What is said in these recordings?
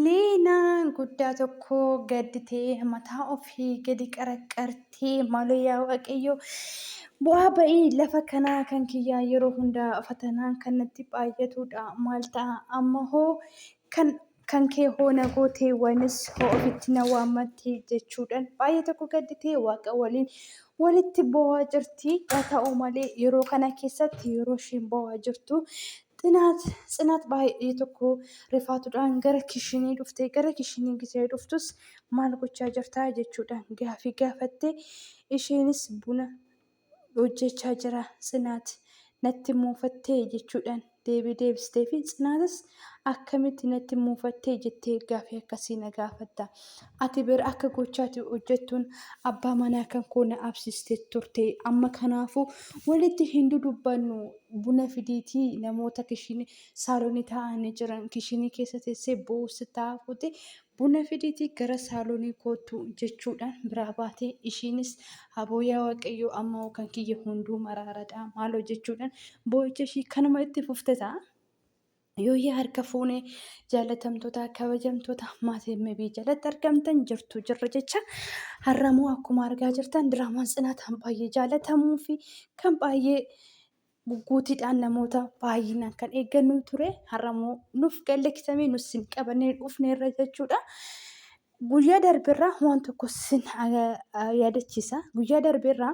Leenaan guddaa tokko gadditee mataa ofii gadi qaraqqartee maaloo yaa waaqayyo bu'aa ba'ii lafa kanaa kan kiyyaa yeroo hundaa fatanaan kan natti baay'atuudha maal ta'a amma hoo kan kan kee hoo na gootee wanis hoo ofitti na waammattee jechuudhaan baay'ee tokko gadditee waaqa waliin walitti bo'aa jirti haa ta'u malee yeroo kana keessatti yeroo isheen bo'aa jirtu Xinaat Tsinaat baay'ee tokko rifaatuudhaan gara kishinii dhufte. Gara kishinii gisee dhuftus maal gochaa jirtaa jechuudhaan gaafii gaafatte. Isheenis buna hojjechaa jira Tsinaat natti muufattee jechuudhaan deebii deebistee fi Tsinaatis akkamitti natti muufattee jettee gaafii akkasii na gaafatta. Ati bira akka gochaati hojjettuun abbaa manaa kan koo na absiste turte. Amma kanaafuu walitti hin dudubbannu Buna fideeti namoota kishinii saalonii taa'anii jiran kishinii keessa teessee boo'uutti taa'aa fuute buna fideeti gara saalonii kootu jechuudhaan biraa baate ishiinis aboo yaa waaqayyoo amma hoo kan kiyya hunduu maraaradha maaloo jechuudhaan boo'icha ishii kanuma itti fufte ta'a. Yooyyaa harka fuune jaalatamtoota kabajamtoota maatii MB jalatti argamtan jirtu jirra jecha har'amoo akkuma argaa jirtan diraamaan tsinaataan baay'ee jaalatamuu fi kan baay'ee gugguutiidhaan namoota baay'inaan kan eeggannu ture har'amoo nuuf gallakkisamee nus sin qabannee dhufneerra jechuudha. Guyyaa darbeerraa waan tokko sin yaadachiisa. Guyyaa darbeerraa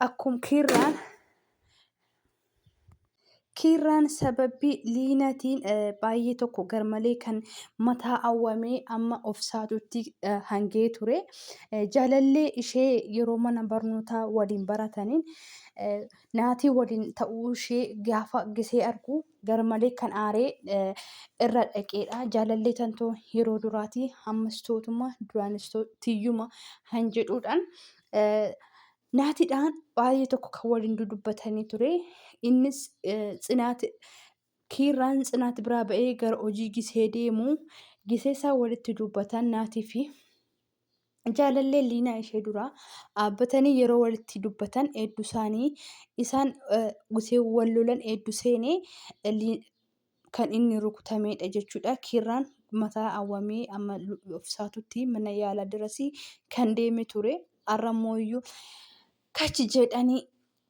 akkuma kiirraan Kiirraan sababii liinatiin baay'ee tokko garmalee kan mataa awwamee amma of saatutti hangee ture. Jaalallee ishee yeroo mana barnootaa waliin barataniin naatii waliin ta'uu ishee gaafa gisee argu garmalee kan aaree irra dhaqeedha. Jaalallee tantoo yeroo duraatii ammas tootuma duraanis tiyyuma han jedhuudhaan Naatiidhaan baay'ee tokko kan waliin dudubbatanii ture. Innis tsinaati kiirraan tsinaati biraa ba'ee gara hojii gisee deemu. Gisee isaa walitti dubbatan naatii fi jaalallee liinaa ishee duraa dhaabbatanii yeroo walitti dubbatan hedduu isaanii isaan gisee wal lolan hedduu seenee kan inni rukutameedha jechuudha. Kiirraan mataa awwamee amma ofisaatutti mana yaalaa dirasii kan deeme ture. Har'a immoo iyyuu kachi jedhanii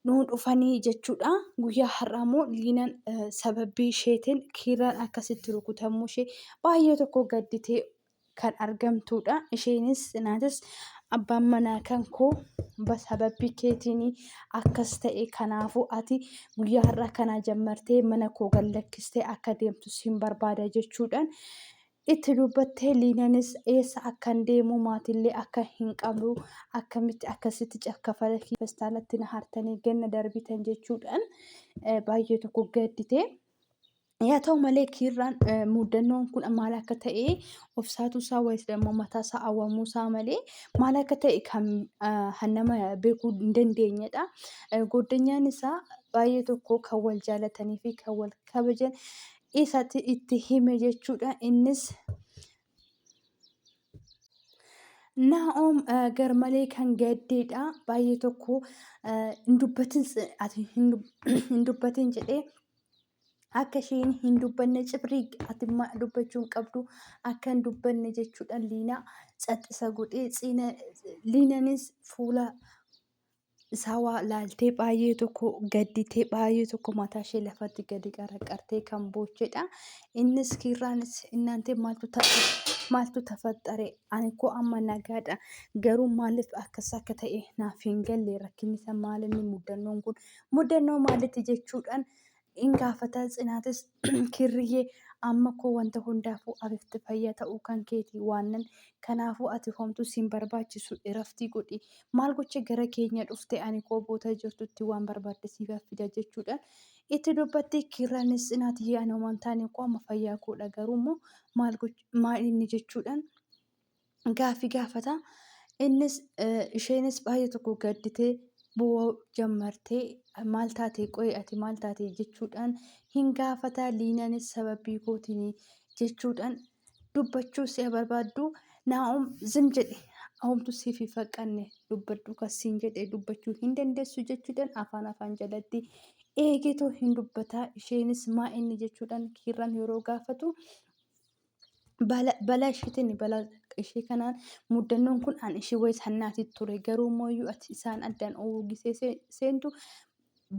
nuu dhufanii jechuudha. Guyyaa har'aa immoo liinan sababbii isheetiin kiirraan akkasitti rukutamuu ishee baay'ee tokko gadditee kan argamtuudha. Isheenis naatis abbaan manaa kan koo sababii keetiin akkas ta'e kanaafuu ati guyyaa har'aa kanaa jammartee mana koo gad lakkistee akka deemtu siin barbaada jechuudhaan itti dubbattee liinanis eessa akkan deemu maatiillee akka hin qabnu akkamitti akkasitti cakkafala feestaalatti na hartanii ganna darbitan jechuudhaan baay'ee tokko gaddite. Yaa ta'u malee kiirraan eh, muddannoon kun maal akka ta'e obsaatuu isaa wayis immoo mataa isaa awwamuu isaa malee maal akka ta'e kan ah, kan nama beekuu hin dandeenyedha. Eh, Goodanyaan isaa baay'ee tokko kan wal jaalatanii fi kan wal kabajan isatti itti hime jechuudha. Innis Naa'om eh, garmalee kan gaddeedha. Baay'ee tokko eh, hin dubbatin s- ati hin dub- hin dubbatin jedhee akka isheen hin dubbanne cibrii atimma dubbachuu hin qabdu akka hin dubbanne jechuudhaan liinaa caxxisa godhee ciina liinanis fuula isaa waa laaltee baay'ee tokko gadditee baay'ee tokko mataa ishee lafatti gadi qaraqartee kan boochedha. Innis kiirraanis innaantee maaltu tafe maaltu tafaxxare ani koo amma nagaadha garuu maaliif akkas akka ta'e naaf hin galle rakkinni isaa maal inni muddannoon kun muddannoo maalitti jechuudhaan in gaafata tsinaatis kirriyyee amma koo wanta hundaafuu afifti fayya ta'uu kan keeti waannan kanaafuu ati homtu sin barbaachisu iraftii godhi maal gocha gara keenya dhufte ani koo boota jirtutti waan barbaadde siif fida jechuudhaan itti dubbatti kirranis tsinaatiyyee ani homan taane koo amma fayyaa koodha garuu immoo maal inni jechuudhaan gaaffii gaafata. Innis isheenis baay'ee tokko gadditee boo'uu jammartee maal taate qo'ee ati maal taate jechuudhaan hin gaafata. Liinaanis sababii kootiin jechuudhaan dubbachuu si'a barbaaddu naa'om zim jedhe homtu siif hin faqqanne dubbadhu kan siin jedhe dubbachuu hin dandeessu jechuudhaan afaan afaan jalatti eegeetoo hin dubbataa isheenis maa inni jechuudhaan kiirraan yeroo gaafatu Bala, bala ishiitiin bala ishii kanaan muddannoon kun an ishii wayis hannaati ture garuu immoo iyyuu ati isaan addaan uwwisee see- seentu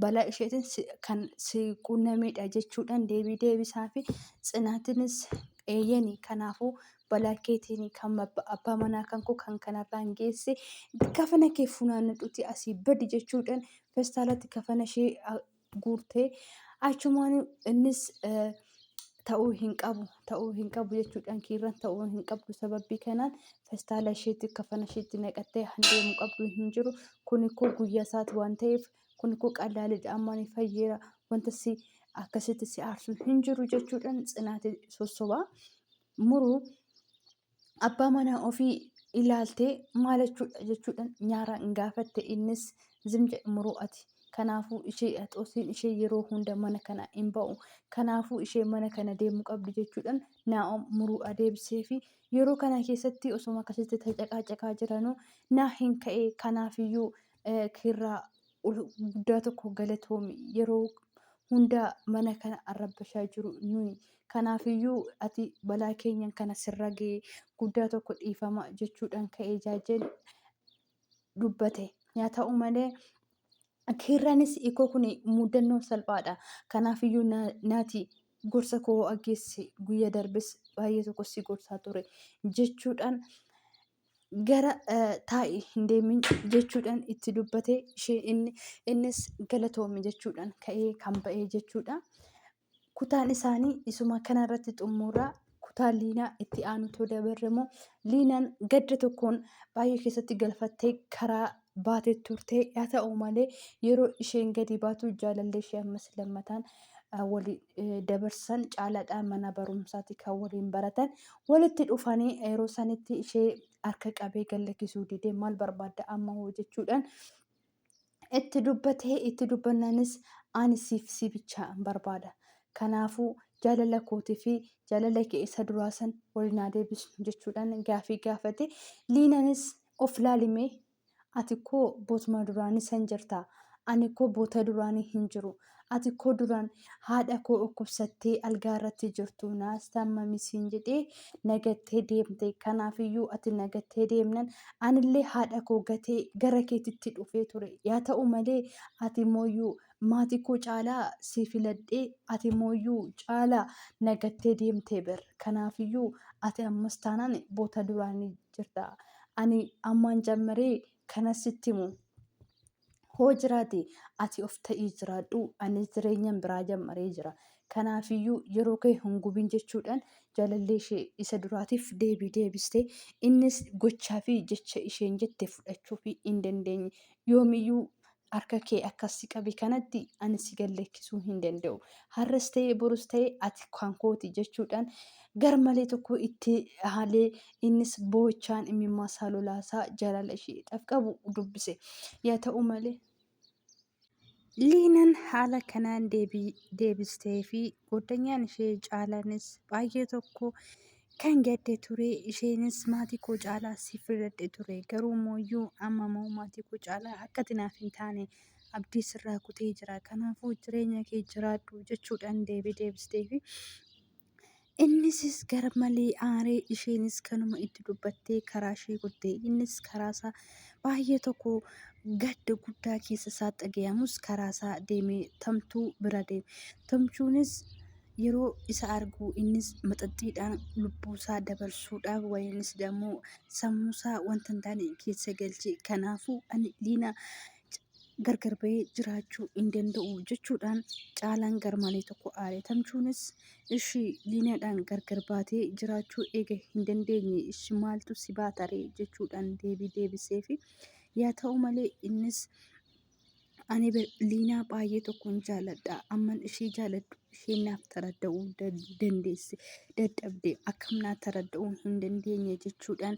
bala isheetiin si- kan si quunnamedha jechuudhaan deebii deebisaa fi tsinaatinis eeyyeni kanaafuu balaa keetiin kan abba- abbaa manaa kan koo kan kanarraan geesse kafana kee funaannadhuti asii badi jechuudhaan festaalatti kafana ishee a- guurte achumaan innis ta'uu hin qabu ta'uu hin qabu jechuudhaan kiirran ta'uu hin qabdu sababii kanaan festaala isheetti kafana isheetti naqattee handeemu qabdu hin jiru kun koo guyyaa isaati waan ta'eef kun koo qallaalidha ammaan fayyeera wanta si akkasitti si aarsu hin jiru jechuudhaan tsinaate sossobaa muruu abbaa manaa ofii ilaaltee maal jechuudha jechuudhaan nyaaraan hin gaafatte innis zim jedhe muruu ati kanaafuu ishee haxoosiin ishee yeroo hunda mana kana hin ba'u kanaafuu ishee mana kana deemuu qabdi jechuudhaan naa'om muruu adeebisee fi yeroo kana keessatti osoma akkasitti tacaqaacaqaa jiranuu naa hin ka'e kanaafiyyuu eh, kiirraa ul- guddaa tokko galatoomi yeroo hunda mana kana arrabbashaa jiru nuyi kanaafiyyuu ati balaa keenyan kana sirra ga'e guddaa tokko dhiifama jechuudhaan ka'ee jaajeen dubbate yaa ta'u malee kiirraanis ikoo kun muudannoo salphaadha kanaafiyyuu na- naati gorsa koo aggeessi guyya darbes baay'ee tokko si gorsaa ture jechuudhaan gara taa'i hin deemin jechuudhaan itti dubbate ishee inni innis galatoomi jechuudhaan ka'ee kan ba'ee jechuudha. Kutaan isaanii isuma kanarratti xummuura kutaa liinaa itti aanutu dabarre immoo liinaan gadda tokkoon baay'ee keessatti galfattee karaa baate turte. Haa ta'u malee yeroo isheen gadi baatu jaalallee ishee ammas lammataan waliin dabarsan caalaadhaa mana barumsaati kan waliin baratan walitti dhufanii yeroo sanitti ishee harka qabee gallakkisuu didee maal barbaadda amma hoo jechuudhaan itti dubbatee itti dubbannaanis ani siif si bichaa barbaada. Kanaafuu jaalala kootii fi jaalala kee isa duraa san waliin haa deebisnu jechuudhaan gaafii gaafate. Liinanis Of laali mee! Ati koo bootuma duraanii san jirta. Ani koo boota duraanii hin jiru. Ati koo duraan haadha koo dhukkubsattee algaa irratti jirtu naas taammami siin jedhee na gattee deemte. Kanaafiyyuu ati na gattee deemnan anillee haadha koo gatee gara keetitti dhufee ture. Yaa ta'u malee ati mooyyuu maatii koo caalaa si filadhee ati mooyyuu caalaa na gattee deemte ber. Kanaafiyyuu ati ammas taanaan boota duraanii jirta. Ani ammaan jammaree kanas sitti himu. Hoo jiraate ati of ta'ii jiraadhu anis jireenyan biraa jammaree jira. Kanaafiyyuu yeroo kee hin gubin jechuudhaan jaalallee ishee isa duraatiif deebii deebiste. Innis gochaa fi jecha isheen jette fudhachuu fi hin dandeenye. Yoomiyyuu Harka kee akkas si qabe kanatti ani si gad lakkisuu hin danda'u. Har'as ta'ee borus ta'ee ati kan kooti jechuudhaan garmalee tokko itti haalee innis boo'ichaan imimmaa isaa lolaasaa jaalala isheedhaaf qabu dubbise. Yaa ta'u malee Liinan haala kanaan deebii deebisteefi goddanyaan ishee Caalaanis baay'ee tokko Kan gadde ture isheenis maatii koo caalaa si filadhe ture garuu mooyyuu amma moo maatii koo caalaa akkati naaf hin taane abdii sirraa kutee jira kanaafuu jireenya kee jiraadhu jechuudhaan deebii deebistee fi innisis gar malee aaree isheenis kanuma itti dubbattee karaa ishee kutte innis karaasaa baay'ee tokko gadda guddaa keessa isaa dhagayamus karaasaa deemee tamtuu bira deeme tamchuunis yeroo isa argu innis maxaxxiidhaan lubbuusaa dabarsuudhaaf wayiinis immoo sammuusaa wanta hin taane keessa galche kanaafuu ani liina gargar bahee jiraachuu hin danda'u jechuudhaan caalaan garmalee tokko aare tamchuunis ishii liinaadhaan gargar baatee jiraachuu eega hin dandeenye ishi maaltu si baataree jechuudhaan deebii deebiseefi yaa ta'u malee innis Ani Liinaa baay'ee tokkoon jaaladha. Amman ishee jaaladhu ishee naaf taradda'uu dandeesse dadhabde akkam naa taradda'uu hin dandeenye jechuudhaan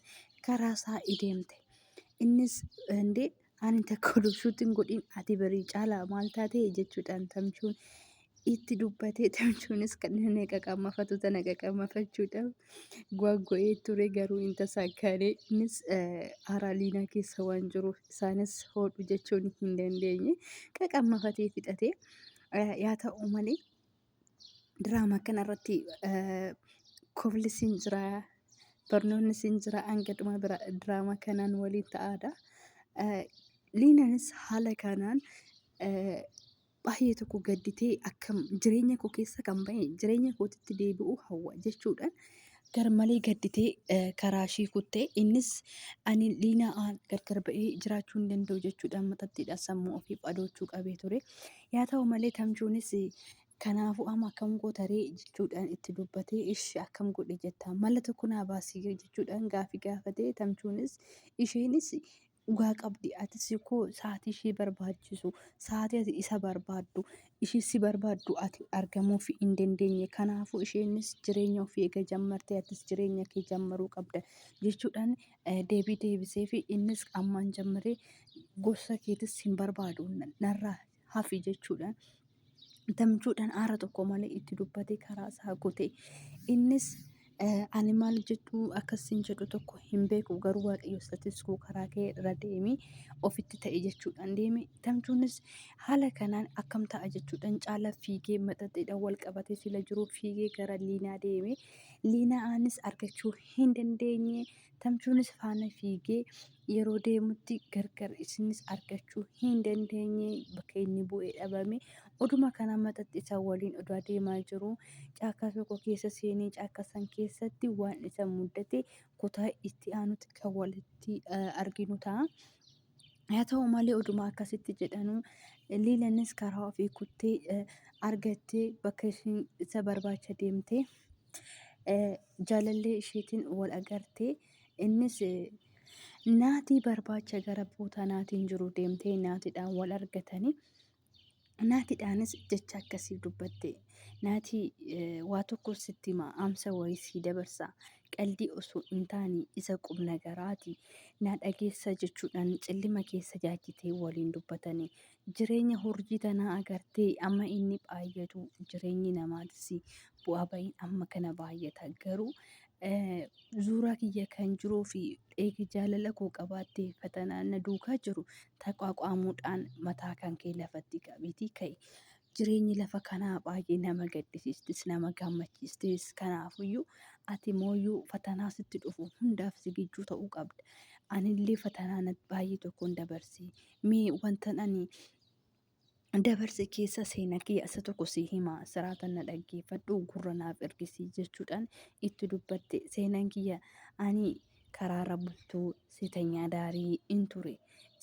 karaa isaa ideemte. Innis indee ani takka oduu shuutiin godhin ati barii caalaa maal taatee jechuudhaan tamchuun itti dubbatee tamchuunis kan inni qaqammafatu tana qaqammafachuudhaaf gwaaggo'ee ture garuu hin tasaakkaane innis haaraa liinaa keessa waan jiruuf isaanis hodhu jechuun hin dandeenye qaqammafatee fixate yaa ta'u malee diraama kanarratti koflis hin jira barnoonnis hin jira hanga dhuma diraama kanaan waliin ta'aadha liinanis haala kanaan baay'ee tokko gadditee akkam jireenya koo keessa kan bahe jireenya kootitti deebi'uu hawwa jechuudhaan garmalee gadditee eh, karaa ishii kuttee innis ani liinaa aan gargar ba'ee jiraachuu hin danda'u jechuudhaan maxaxxiidhaan sammuu ofiif adoochuu qabee ture. Yaa ta'u malee tamchuunis eh, kanaafuu amma akkam gootaree jechuudhaan itti dubbatee ishi akkam godhe jettaa mala tokko naa baasii jechuudhaan gaafii gaafatee tamchuunis isheenis Dhugaa qabdi atis koo sa'aatii ishee barbaachisu sa'aatii ati isa barbaaddu ishee si barbaaddu ati argamuuf hin dandeenye kanaafuu isheenis jireenya ofii eega jammarte atis jireenya kee jammaruu qabda jechuudhaan eh, deebii deebisee fi innis ammaan jammaree gorsa keetis hin barbaadu narraa hafi jechuudhaan gamchuudhaan aara tokko malee itti dubbatee karaa isaa kute. Innis ani maal jedhu akkas hin jedhu tokko hin beeku garuu waaqayyo isatis koo karaa kee irra deemi ofitti ta'e jechuudhaan deeme. Gamchuunis haala kanaan akkam ta'a jechuudhaan caala fiigee maxaxeedhaan wal qabatee sila jiru fiigee gara liinaa deeme. Liinaanis argachuu hin dandeenye. Tamchuunis faana fiigee yeroo deemutti gargar isinis argachuu hin dandeenye bakka inni bu'ee dhabame oduma kana maxatti isa waliin oduu adeemaa jiru caakkaa tokko keessa seenee caakkaa san keessatti waan isa muddate kutaa itti aanutti kan walitti eh, arginu ta'a. Haa ta'u malee oduma akkasitti jedhanuu liilanis karaa ofii kuttee eh, argattee bakka ishiin isa barbaacha deemtee jaalallee isheetiin wal agartee innis naatii barbaacha gara buutaa naatiin jiru deemtee naatiidhaan wal argatanii naatiidhaanis jecha akkasii dubbatte naatii waa tokko sitti himaa amsa wayii sii dabarsa qaldii osoo hin taane isa qubna garaati naa dhageessa jechuudhaan cillima keessa jaajjitee waliin dubbatanii jireenya hurjii tanaa agartee amma inni baay'atu jireenyi namaatis bu'aa ba'iin amma kana baay'ata garuu zuuraa kiyya kan jiruu fi eegi jaalala koo qabaattee fatanaa na duukaa jiru taqaaqaamuudhaan mataa kan kee lafatti qabiitii ka'e. Jireenyi lafa kanaa baay'ee nama gaddisiistis nama gammachiistis kanaafuyyuu ati mooyyuu fatanaa sitti dhufu hundaaf sigijjuu ta'uu qabda. Anillee fatanaa baay'ee tokkoon dabarsee mee wantan ani dabarse keessa seena kee asa tokko si hima siraatan na dhaggeeffadhu gurra naaf ergisi jechuudhaan itti dubbatte seenaan kiyya ani karaarra bultuu seetanyaa daarii in ture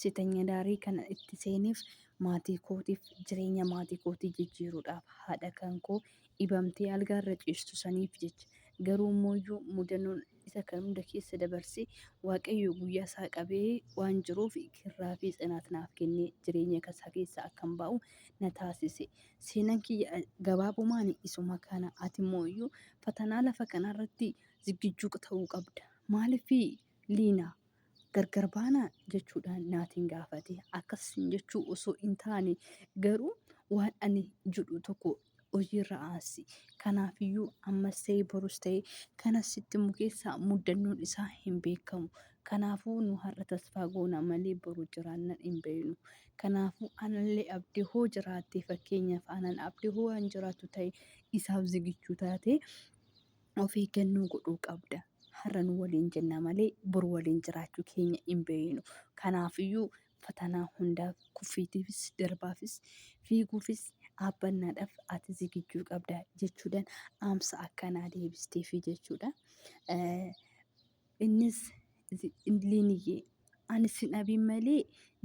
seetanya daarii kana itti seeniif maatii kootiif jireenya maatii kootii jijjiiruudhaaf haadha kan koo dhibamtee algaarra ciistu saniif jecha garuu immoo mudanoon isa kan hunda keessa dabarsee waaqayyoo guyyaa isaa qabee waan jiruuf kirraa fi tsinaat naaf kennee jireenya isaa keessa akkan baa'u na taasise. Seenaan kiyya gabaabumaan isuma kana ati immoo iyyuu fatanaa lafa kanarratti ziggijjuu ta'uu qabda. Maaliif liina gargar baana jechuudhaan naatiin gaafate. Akkas jechuu osoo hin taane garuu waan ani jedhu tokko hojiirra aansi. Kanaafiyyuu ammas ta'e borus ta'e kan asitti immoo keessaa muddannoon isaa hin beekamu. Kanaafuu nu har'a tasfaa goona malee boru jiraannan hin beeknu. Kanaafuu anallee abdii hoo jiraattee fakkeenyaaf anan abdii hoo waan jiraattu ta'e isaaf zigichuu taate of eeggannoo godhuu qabda. Har'a nu waliin jenna malee boru waliin jiraachuu keenya hin beeknu. Kanaafiyyuu fatanaa hundaaf, kuffiitiifis, darbaafis, fiiguufis, dhaabbannaadhaaf ati zigijjuu qabda jechuudhaan dhaamsa akkanaa deebisteefi jechuudha. Eh, Innis zi- liiniyyee ani sin dhabiin malee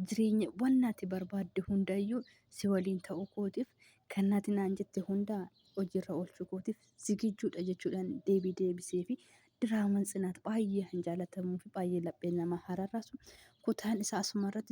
jireenya waan ati barbaadde hundayyuu si waliin ta'uu kootiif kan nati naan jette hundaa hojiirra oolchuu kootiif zigijjuudha jechuudhaan deebii deebiseefi Diraaman tsinaat baay'ee kan jaalatamuu fi baay'ee laphee namaa hararaasu kutaan isaa asuma irratti